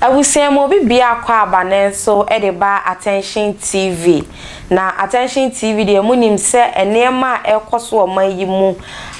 Abusua mu obi biako aba ne nso de ba Attention TV. Na Attention TV deɛ mo nim sɛ nneɛma a ɛrekɔ so wɔ man yi mu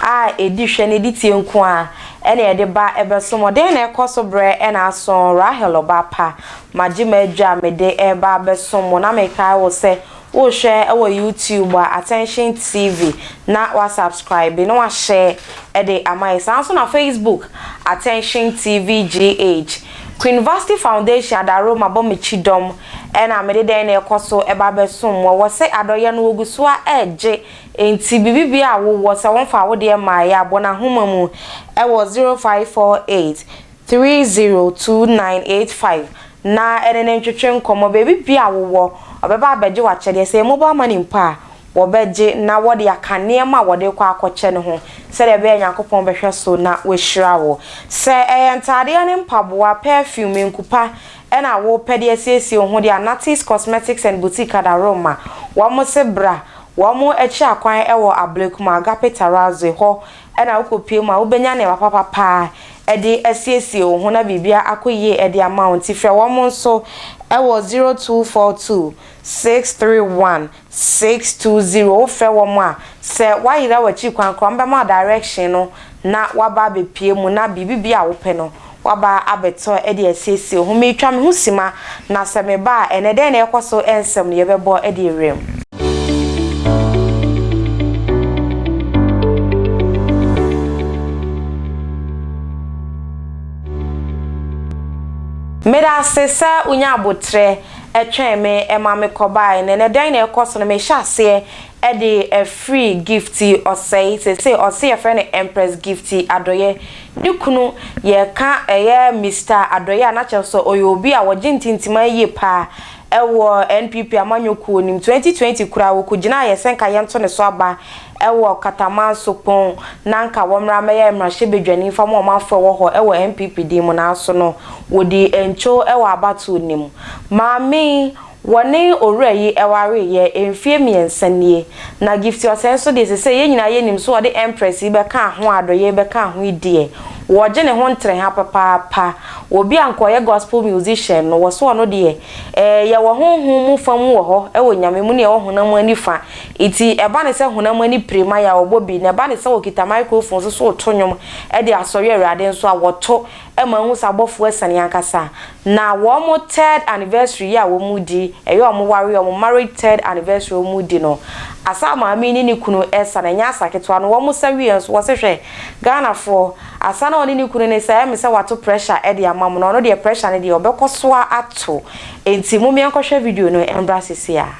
a ɛdi hwɛ na ɛdi tie nko a ɛna ɛde ba ɛbɛso mo. Dɛn na ɛkɔ so berɛ ɛna aso Rahel Ɔbaapa Magye m'adwa a mede reba abɛsom wo. Na mekae wo sɛ worehwɛ wɔ YouTube a, Attention TV, na woasubscribe na woahyɛ de ama yɛn. Saa ara nso na Facebook, Attention TV GH. Queenvasty Foundation Adaro mabɔ me kyidɔm na mede dɛn na ɛrekɔ so reba abɛsom wo. Wɔse adɔeɛ no wɔgu so ara regye enti biribibiara a wowɔ sɛ wɔmfaa wo deɛ mmaeɛ a, bɔ no ahoma mu wɔ 0548. 302985 na ɛne no ntwetwe nkɔmmɔ. Baabi biara a wowɔ, ɔbɛba abɛgye w'akyɛdeɛ. Sɛ ɛyɛ mobile money mpo a, wɔbɛgye na wɔde aka nneɛma a wɔde rekɔ akɔkyɛ no ho sɛdeɛ ɛbɛyɛ a Nyankopɔn bɛhwɛ so na wahyira wo. Sɛ ɛyɛ ntaadeɛ ne mpaboa, perfume, nkupa na wopɛ de asiesie wo ho deɛ a, Natty's Cosmetics and Boutique Adaroma, wɔn se bra. Wɔn akyi akwan wɔ Ablekuma, Agape Terrazzo, hɔ Ɛna wokɔpue mu a wobɛnya nneɛma papa paa de asiesie wo ho na biribiara akɔ yie de ama wo nti frɛ wɔn nso wɔ zero two four two six three one six two zero wofrɛ wɔn a sɛ woayera w'akyiri kwan koraa wɔbɛma wo direction no na woaba abɛpue mu na biribi biara a wopɛ no Woaba abɛtɔ de asiesie ho. Meretwa me ho simma, na sɛ meba a, ɛnnɛ dɛn na ɛrekɔ so nsɛm no yɛbɛbɔ de awuram. Meda ase sɛ wonyaa aboterɛ twɛn me ma mekɔbaeɛ no, ɛnnɛ dɛn na ɛrekɔ so no mehyɛ aseɛ de afiri Gifty Osei seesei ɔse yɛfrɛ no Empress Gifty Adɔyɛ ne kunu yɛka ɛyɛ Mister Adɔyɛ a na kyerɛ sɛ ɔyɛ obi a ɔgye ntintiman yie paa ɛwɔ NPP amanyɔ kuo no mu 2020 koraa ɔkɔgyinaa yɛ sɛ nka yɛnto ne so aba ɛwɔ Katamanso pon na nka wɔmmra mmɛyɛ mmrahyɛ badwani mfa ma ɔmanfoɔ ɛwɔ hɔ ɛwɔ NPP din mu nanso no wɔdii ntwo ɛwɔ abatoɔ no mu Maame Wɔne owura yi wareeɛ mfeɛ mmiɛnsa nie, na Gifty Osei nso deɛ sesei yɛn nyinaa yɛnim sɛ ɔde Empress yi bɛkaa ho a adɔyɛɛ bɛkaa ho yi deɛ, wɔgye ne ho ntrɛha papaapa. Obi a anka ɔyɛ Gospel musician no, wɔse ɔno deɛ, eh, yɛwɔ honhom mu fa mu wɔ hɔ wɔ Nyame mu na yɛwɔ honam ani fa. Nti ɛba ne sɛ honam ani pire ma yɛ a, ɔbɔ bi, na ɛba ne sɛ ɔkita microphone nso sɛ ɔto nnwom de asɔre Awurade nso a, wɔto. ma ehu sɛ abɔfo asiane ankasa, na wɔn third anniversary yi a wɔredi, ɛyɛ wɔn ware, wɔn marriage third anniversary a wɔredi no, Asa maame yi ne ne kunu resa, na ɛnyɛ asa ketewa no, wɔsa wieɛ nso, wɔse hwɛ, Ghanafoɔ, Asa no a ɔne ne kunu resa, ɛyɛ me sɛ wato pressure de ama mo, na ɔno deɛ pressure no deɛ ɔbɛkɔ so ara ato, enti mommeɛ nkɔhwɛ video no mmra seesei ara.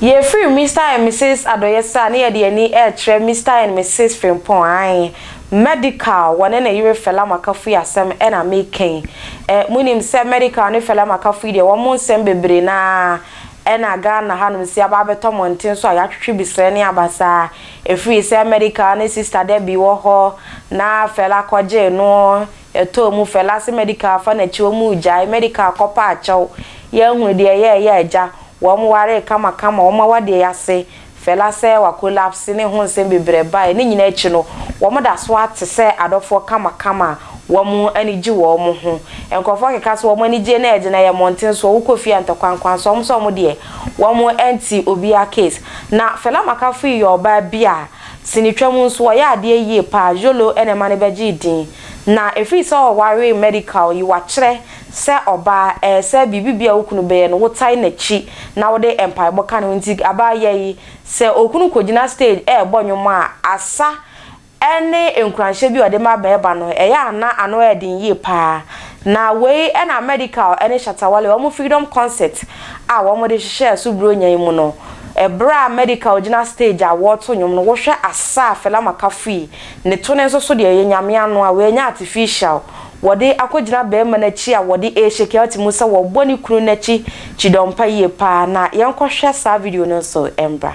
Yɛfiri Mister and Misis Adɔyɛsɛ a ne yɛde yɛn ani rekyerɛ Mister and Misis Frimpong ae Medical, wɔne ne yere Fela Makafui asɛm na mereka yi. Eh, monim sɛ Medical ne Fela Makafui deɛ wɔn nsɛm bebree no ara na Ghana hanom si aba abɛtɔ mmɔnten so a yɛatwetwe bisrɛ ne abasaa. Ɛfiri sɛ Medical ne Sister Debbie wɔ hɔ na Fela kɔgyee no Ɛtɔɔ mu Fɛla se Medical fa nakyi ɔmo gyae Medical kɔ pɛ akyɛw Yɛnhunu deɛ ɛyɛɛ yɛ agya Wɔn waree kama kama ɔmo awadeɛ yase Fɛla sɛ wa collapse ne ho nsɛm bebrɛ bae Ne nyinaa akyi no wɔn da so ara te sɛ adɔfoɔ kama kama Wɔn ani gye wɔn ho Nkorɔfoɔ keka sɛ wɔn anigyie no ɛgyina yɛ mmɔnten soɔ Wokɔ fie a ntɔkwankwan soɔ Wɔn sɛ wɔn deɛ wɔn nte obiara case Na Fɛla Makafoyi yɛ ɔbaa bi a Sinitwa mu nso ɔyɛ adeɛ yie paa Jolo na ɛma no bɛgyee din na ɛfiri sɛ ɔwaree medical yi wakyerɛ sɛ ɔbaa ɛɛ sɛ biribi biara a wo kunu bɛyɛ no wo tae n'akyi na wode mpaebɔ ka ne ho nti abaa yɛ yi sɛ okunu kɔgyina stage ɛɛbɔ nnwom a asa ɛne nkuranhyɛ bi a ɔde ma bɛɛba no ɛyɛ a na ano ɛɛden yie paa Na wei na Medikal ne Shatta Wale wɔn Freedom Concert a wɔde hyehyɛɛ so Buronya yi mu no. Ɛberɛ a Medikal gyina stage a wɔreto nnwom no, wohwɛ asa a Fela Makafui ne to ne nso so deɛ ɛyɛ Nyame ano a wɔanya artificial wɔde akɔgyina barima no akyi a wɔde rehyekɛɛte mu sɛ wɔrebɔ ne kunu no akyi kyidɔmpa yie paa na yɛnkɔhwɛ saa video no nso mbra.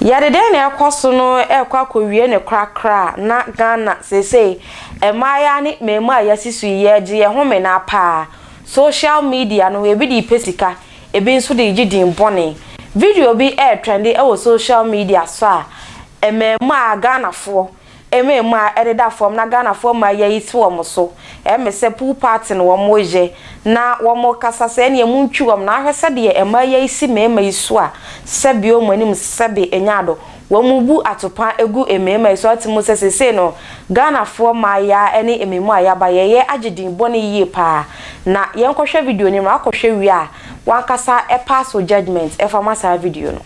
Yɛde dɛn na ɛkɔ so no rekɔ akɔwie ne korakora na Ghana seesei mmaayewa ne mmaamua a yɛasi so yi yɛregye yɛn ho menaa paa. Social media no ebi de repɛ sika, ebi nso de regye din bɔne. Video bi retrɛnde wɔ social media so a mmaamua Ghanafoɔ Eme emu a ɛdeda fam na Ghanafoɔ mmaa yi ayi to wɔn so. Eme sɛ pool party na wɔn reyɛ na wɔn rekasa sɛ ɛneɛ mo ntwi wɔn na ahwɛ sɛdeɛ mmaa yi ayi si mmarima yi so a sɛbe wɔn anim sɛbe enya ado. Wɔn rebu atopa agu mmarima yi so ate mu sɛ seesei no Ghanafoɔ mmaa yi ara ne eme mu a yɛaba yɛyɛ agye din bɔne yie paa. Na yɛnkɔhwɛ video no mmra kɔhwɛ wie a wankasa pass wo judgement ɛfa ma saa video no.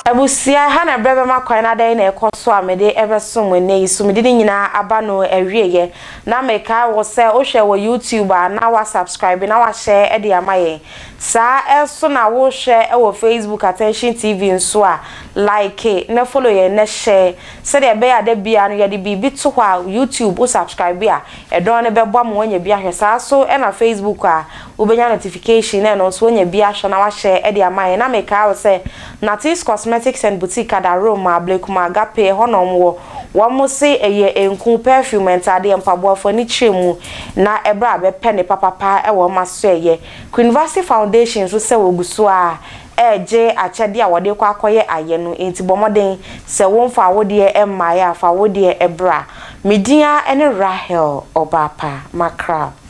Abusua, ha na berɛ bɛma kwan na adɛn na ɛkɔ so a mede rebɛsom mo nnɛ yi? Sumidi no nyinaa aba no awieɛ. Na mekae wo sɛ wohwɛ wɔ YouTube a na woasubscribe na woahyɛ de ama yɛn. Saa ara nso na wohwɛ wɔ Facebook Attention TV nso a, like na follow yɛn na share sɛdeɛ ɛbɛyɛ a da biara no yɛde biribi to hɔ a YouTube wo subscribe a, ɛdɔn no bɛboa ma woanya bi ahwɛ. Saa ara nso na Facebook a, wobɛnya notification na ɛno nso woanya bi ahwɛ na woahyɛ de ama yɛn. Na mekae wo sɛ Natee's Cosmetics and Boutique ada Rome ma Ablekuma Agape, ɛhɔ na wɔwɔ. Wɔse ɛyɛ nku, perfume, ntaadeɛ, mpaboa, fo ani kyerɛ mu na ɛberɛ a bɛpɛ ne papapa wɔ wɔn asoɛeɛ. Queenvasi Foundation nso sɛ wɔgu so ara regye akyɛdeɛ a wɔde rekɔ akɔyɛ ayɛ no enti bɔ mmɔden sɛ womfaa wo deɛ mmaeɛ a fa wo deɛ bra. Me din ara ne Rahel Ɔbaapa Makrab.